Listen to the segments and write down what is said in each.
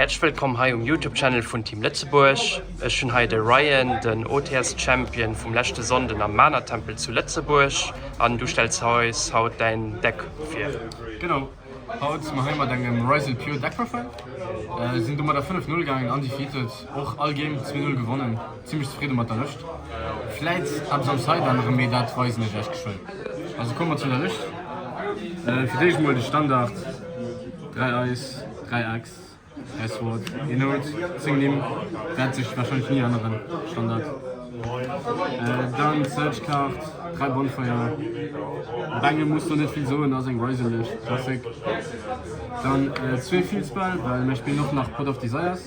Häerzlech wëllkomm hei um Youtube Channel vun Team Lëtzebuerg. Ech hunn hei de Ryan, den OTS Champion vum leschte Sonnden am Mana Tempel zu Lëtzebuerg an du stells eis haut däin Deck vir. Genau, haut si mer hei mat engem Ryzen Pure Deck Profile, sinn domadder 5 0 gaangen, undefeated, och all Game 2 0 gewonnen, zimmlech zefridde mat der Lëscht. Vläit eppes am Side anerem, mee dat weisen ech iech geschwënn. Also komme mer zu der Lëscht, fir d'éischt mol de Standard, 3 Eis. Dräi Ex, dräi Sword, een Oud, zéng Nimm, wäert sech warscheinlech ni änneren, Standard. Dann Search Card, dräi Bonfire, op engem muss do net vill soen, ass eng Riserlech, Klassik. Dann zwee Field Spell, well mir spillen och nach Pot of Desires,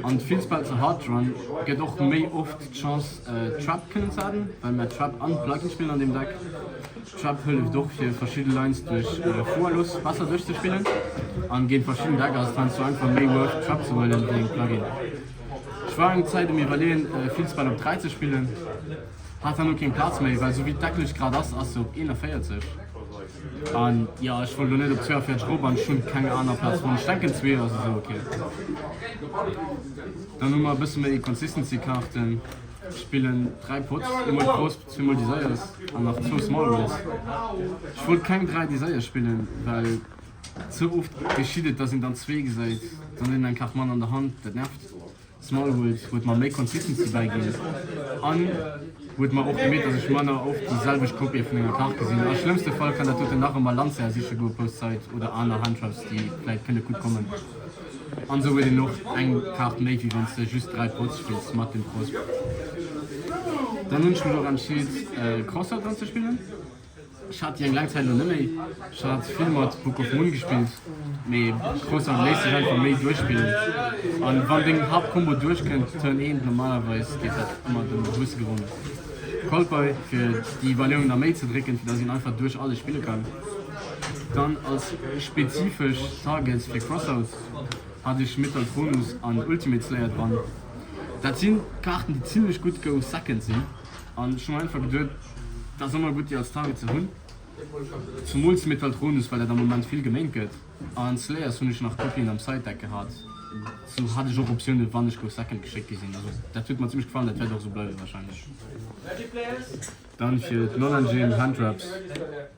an d'Field Spell zu Hardrun gëtt och méi oft d'Chance Trap kënnen ze aden, well mir Trap an Plug-in spillen an deem Deck. D'Schwäpp hëlleft och fir verschidde Lines duerch Fuerlos besser duerchzespillen an géint verschidden Deck ass et heiansdo einfach méi Wurscht d'Schwäpp ze huelen wéi eng Plugin. Ech war eng Zäit um iwwerleeën vill Spell op 3 ze spillen, hat herno keng Plaz méi well sou wéi d'Decklëscht grad ass, ass se op 41 an jo ech wollt lo net op 42 erop an ech hunn keng aner Plaz fonnt. Ech denken 2 ass esou ok. Dann hu mer e bësse méi Consistency Kaarten, ech spillen 3 Pots, ee mol d'Gros. Zwee mol Desires an nach zwou small ones. Ech wollt keng dräi Desires spillen, well ze oft geschitt et, dass een dann zwee gesäit, dann huet een eng Kaart manner an der Hand, dat nervt. Small Worlds huet mer méi Consistency bäiginn an huet mer och gemeet, dass ech manner oft déi selwecht Kopië vun enger Kaart gesinn. A schlëmmste Fall kann dat doten nach ëmmer Lancea siche goe, Post Side oder aner Hand Traps, déi vläit kënne gutt kommen. An sou huet een och eng Kaart méi wéi wanns de just 3 Pots spills mat dem Cross. Dann hunn ech mech och entscheet Crossword dran ze spillen. Ech hat déi eng laang Zäit elo net méi. Ech hat vill mat Book of Moon gespillt, mee Crossword léisst sech einfach méi duerchspillen. An wann deng Haaptcombo duerchkënnt, Turn 1, normalerweis geet dat ëmmer dem Gewusse geronn. Called Boy fir déi Balloun na méi ze drécken, fir dass een einfach duerch alles spille kann. Dann als spezifesch Targets fir Crossouts hat ech Metalchronus an Ultimate Slayer dran. Dat si Kaarten déi zimlech gutt go second sinn an ech hu mer einfach geduet dat ass ëmmer gutt déi als Target ze hunn. Zumools Metalchronus well dat am Moment vill geméint gëtt an Slayers hunn ech nach Copien am Side Deck gehat, sou hat ech och Optiounen wann ech go second geschéckt gi sinn. Also dat huet mer zimlech gefallen, dat wäert och sou bleiwe wahrscheinlech. Dann fir d'Null Engine Hand Wraps.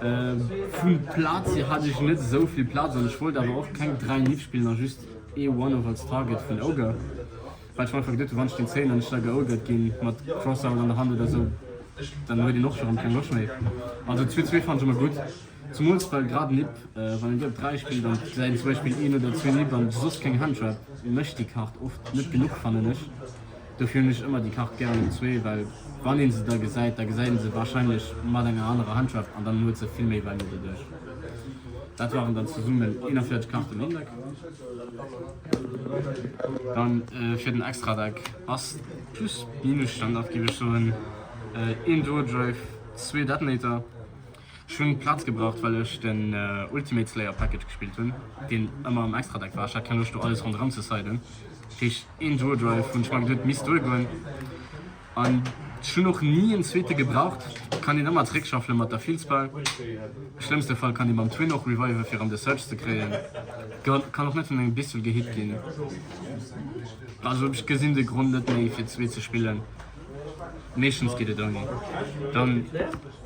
Vun Plaatz hier hat ech net esou vill Plaatz an ech wollt awer och keng 3 Nitt spillen an just ee One-off als Target vun Ogre, well ech mer einfach geduet hun wann ech den 10 an ech da geogert gin mat Crossout an der Hand oder esou dann huet een och virum keng Loscht méi. Also 2 2 fannen ech emmer gudd, zumools well grad Nipp wann een déi op 3 spillt an et säit zum Beispill een oder zwee Nipp an soss keng Hand trap mecht déi Kart oft net genuch fannen ech. Dofir hunn ech ëmmer déi Kart gären um zwee, well wann een se da gesäit, da gesäit een se wahrscheinlech mat enger anerer Handschreft an dann huet se vill méi Value doduerch. Dat waren dann zesummen 41 Karten am Deck. Dann fir den Extradeck ass Plus-Minus-Standard, géif ech soen, een Duodrive, zwee Detonator, Ech hunn Platz gebraucht well ech den Ultimate Slayer Package gespillt hunn, deen ëmmer am Extra Deck war. Ech hat keng Loscht do alles ronderëm ze seiden, dat heescht een Duo Drive hunn ech mer geduet misst duer goen. An ech hunn och ni en zweete gebraucht, kann een ëmmer zréck shuffelen mat der Fielspell. Schlëmmste Fall kann ee mam Twin och reviven fir an de Surge ze kréien, kann och net vun engem Bissel gehit ginn. Also ech gesinn de Grond net méi fir zwee ze spillen. Meeschtens geet et ouni. Dann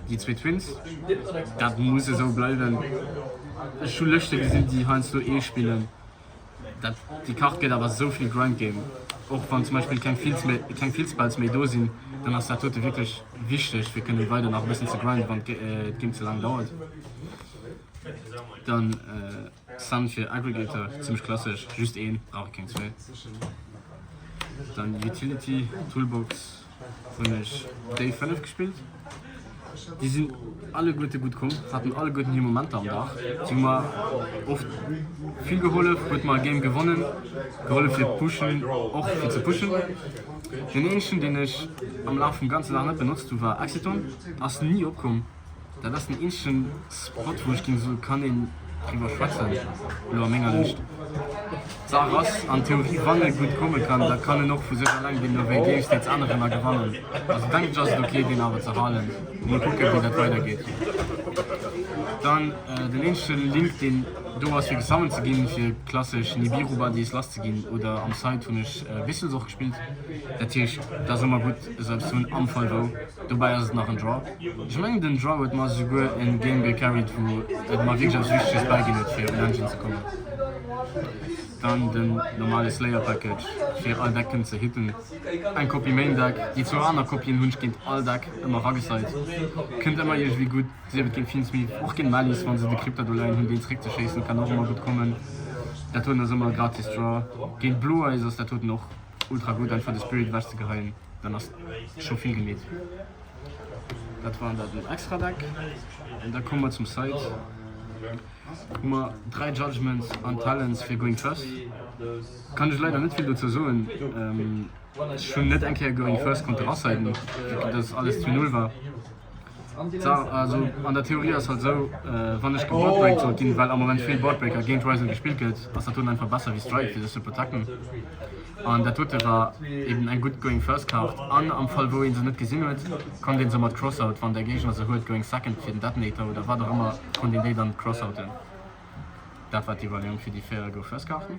déi zwee Twins, dat muss esou bleiwen. Ech hu Lëschte gesinn, déi heiansdo ee spillen. Dat, déi Kart gëtt awer esou vill Grind Game. Och wann zum Beispill keng Fields méi, keng Field Spells méi do sinn, dann ass dat dote wierklech wichteg, fir kënne weider nach e bëssen ze grinden, wann d'Game ze laang dauert. Dann. Sun fir Aggregator, zimmlech klassesch, just een, brauch ee keng zwee. Dann Utility Toolbox hunn ech déi 5 gespillt. Déi sinn alleguerte gutt komm, haten alleguerten hir Momenter am Dag. Si hu mer oft vill gehollef, huet mer e Game gewonnen gehollef fir pushen, och fir ze pushen. Deen eenzegen deen ech am Laf vum ganze Dag net benotzt hu war Exciton, ass ni opkomm. Dat ass den eenzegen Spot wou ech ginn esou kann een driwwer schwätzen elo a menger Lëscht. D'Saach ass an Theorie wann e gutt komme kann da kann en och vu sech alleng gewinnen ewéi géigsteets aner ëmmer gewannen. Also denken ech ass et ok deen awer ze halen. Mol kucke wéi dat weider geet. Dann den eenzege Link deen do ass fir gesummont ze ginn fir klassesch Nibiru Buddies lass ze ginn oder am Side hunn ech Whistles och gespillt. Dat heescht et ass ëmmer gutt esou eppes ze hunn am Fall wou. Dobäi ass et nach en Draw. Ech mengen den Draw huet mer esouguer en Game gecarried wou et mer wierklech eppes Wichteges bäiginn huet fir un Engine ze kommen. Dann den normale Slayer Package fir all Deck kënnen ze hitten. Eng Kopie Main Deck. Déi zwou aner Kopien hunn ech géint all Deck ëmmer ragesait. Kënnt ëmmer iergendwéi gutt. Sief et géint Fiendsmith, och géint Malice wann se de Crypta do leien hunn deen zeréck ze schéissen kann och ëmmer gutt kommen. Dat huet en ass ëmmer e gratis Draw. Géint Blue Eyes ass dat huet en och. Ultra gudd einfach de Spirit ewech ze geheien, dann ass scho vill gemeet. Dat war dat den extra Deck an da komme mer zum Site wou mer 3 Judgements an Talents fir Going First. Kann ech leider net vill dozou soen. Ech hunn net eng Kéier Going First konnte rasiden, vu datt alles zu null war. An der Theorie ass et esou, wann ech geboardbreakt sollt ginn, well am Moment vill Boardbreaker géint Ryzen gespillt gëtt, ass dat dunn einfach besser wéi Strike fir sech ze protecten. An dat dote war eben eng gutt Going First Kaart. An am Fall wou ee se net gesinn huet, konnt ee se mat Crossout, wann de Géigner se huet, Going Second fir den Detonator oder wat och ëmmer, konnt een déi dann crossouten. Dat war d'Iwwerleeung fir déi 4 Go First Kaarten.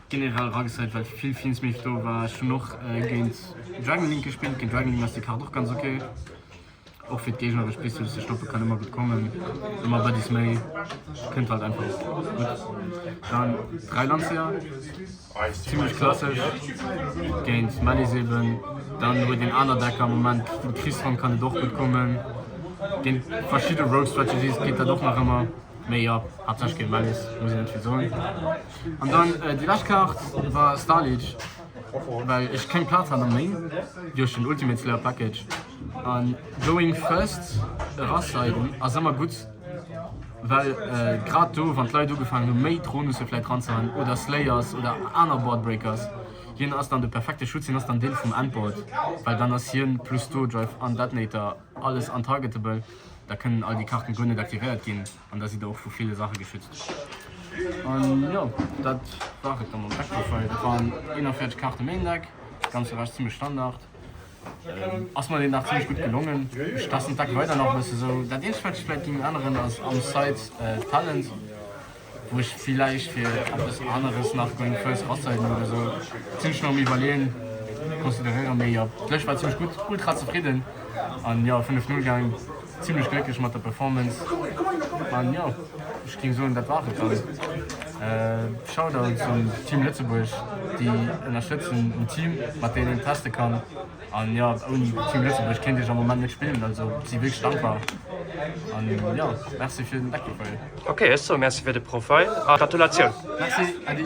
Generell eragezéit well vill Films méi flo war. Ech hunn och géint Dragon Link gespillt. Géint Dragon Link ass déi Kaart och ganz ok. Och fir d'Géigner ech bis hues ze stoppe kann ëmmer gutt kommen. Ëmmer bëddies méi kënnt halt einfach gutt. Dann 3 Landseer zimlech klassesch géint Malice eben. Dann huet een aner Decker am Moment vum Kriss Hong kann et och gutt kommen. Géint verschidde Rogue Strategies geet dat och nach ëmmer. Mee jo, haaptsächlech géint Mellis, muss een net vill soen. An dann déi lescht Kaart war Starliege, well ech keng Plaz hat am Main duerch den Ultimate Slayer Package. A Going First erascheiden ass ëmmer gutt, well grad do, wann d'Leit ugefaangen hu méi Dronusse vläit ranzehaen oder Slayers oder aner Board Breakers, hien ass dann de perfekte Schutz, hien ass dann Deel vum Endboard, well dann ass hien plus Duo Drive an Detonator alles untargetable. da kënnen all déi Karten guer net aktivéiert ginn an da sidd der och vu ville Saache geschützt. An jo, dat war et da mam Backprofile. Dat waren 41 Karten méi en Deck, dat ganze war zimlech Standard. Ass mer deen Dag zimlech gutt gelongen. Ech testen d'Deck weider nach e bësse sou. Dat eenzegt wat ech vläit géing änneren ass am Side Talent. wou ech villäicht fir eppes aneres nach meng First Hochzäiten oder sou zimmlech méi am iwwerleeën, consideréieren. Mee jo, d'lescht war zimmlech gutt, ultra zefridden an jo 5 Null gaang, zimmlech glécklech mat der Performance an jo ech géing soen dat war et dann. Shoutouts un Team Lëtzebuerg déi ënnerstëtzen, un d'Team mat deenen een teste kann an jo ouni Team Lëtzebuerg kéint ech am Moment net spillen, also si wierklech dankbar an jo merci fir den Deckbefeuille. Ok, ech soe Merci fir de Profil a Gratulatioun! Merci Ady!